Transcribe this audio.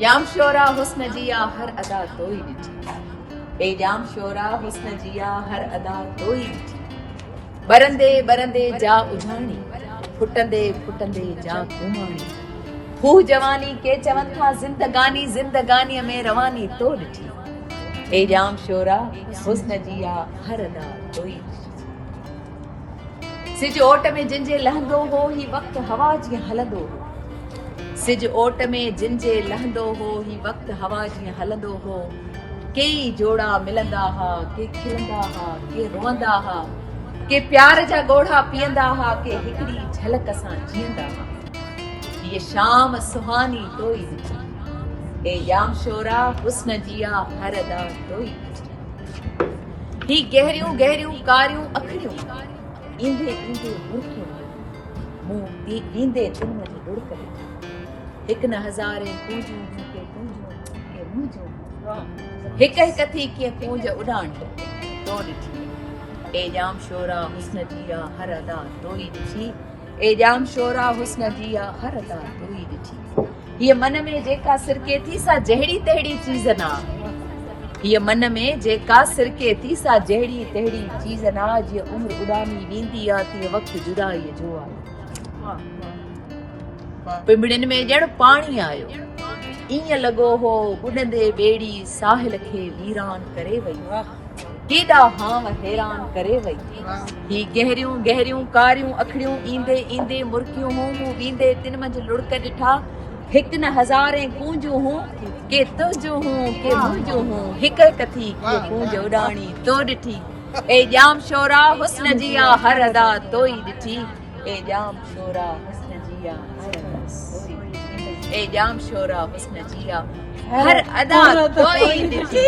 ڄام شورا حسن جي آ هر ادا تو ئي ڏٺي اي ڄام شورا حسن جي آ هر ادا تو ئي ڏٺي ٻرندي ٻرندي جا اجهاڻي ڦٽندي ڦٽندي جا گهماڻي هو جواني ڪي چون ٿا زندگاني زندگاني ۾ رواني تو ڏٺي اي ڄام شورا حسن جي آ هر ادا تو ئي ڏٺي سج اوٽ ۾ جن جي لهندو هو هي وقت هوا جيئن هلندو هو سج اوٽ ۾ جن جي لهندو هو هي وقت هوا جيئن هلندو هو ڪيئي جوڙا ملندا ها ڪي کلندا ها ڪي روئندا ها ڪي پيار جا ڳوڙها پيئندا ها ڪي هڪڙي جھلڪ سان جيئندا ها هي شام سهاني توئي ڏٺي اي ڄام شورا حسن جيا هر ادا توئي ڏٺي هي گهريون گهريون ڪاريون اکڙيون ايندي ايندي مرڪيون مون تي ايندي تن جي ڏڙڪ ڏٺي هڪ نه هزارين ڪونجون هن کي ڪونجون کي منهنجون هڪ هڪ ٿي ڪيئن ڪونج اڏاڻ تو ڏٺي اي ڄام شورا حسن جيا هر ادا تو ئي ڏٺي اي ڄام شورا حسن جي آ هر ادا تو ئي ڏٺي هيء من ۾ جيڪا سرڪي ٿي سا جهڙي تهڙي چيز نه آ هيء من ۾ جيڪا سرڪي ٿي سا جهڙي تهڙي چيز نه آ جيئن عمر اڏامي ويندي آ تيئن وقت جدائيء جو آيو پنبڻين ۾ ڄڻ پاڻي آيو ائين لڳو هو ٻڏندي ٻيڙي ساحل کي ويران ڪري وئي ڪيڏا هانء حيران ڪري وئي. هي گهريون گهريون ڪاريون اکڙيون ايندي ايندي مرڪيون هون، مون ويندي تن منجهه لڙڪ ڏٺا. هڪ نه هزارين ڪونجون هون، ڪي تنهنجون هون ڪي منهنجون هون، هڪ هڪ ٿي ڪيئي ڪونج اڏاڻي تو ڏٺي. اي ڄام شورا حسن جي آ هر ادا تو ئي ڏٺي. اي ڄام شورا حسن جيا اي ڄام شورا حسن جيا هر ادا ڪوئي ڏٺي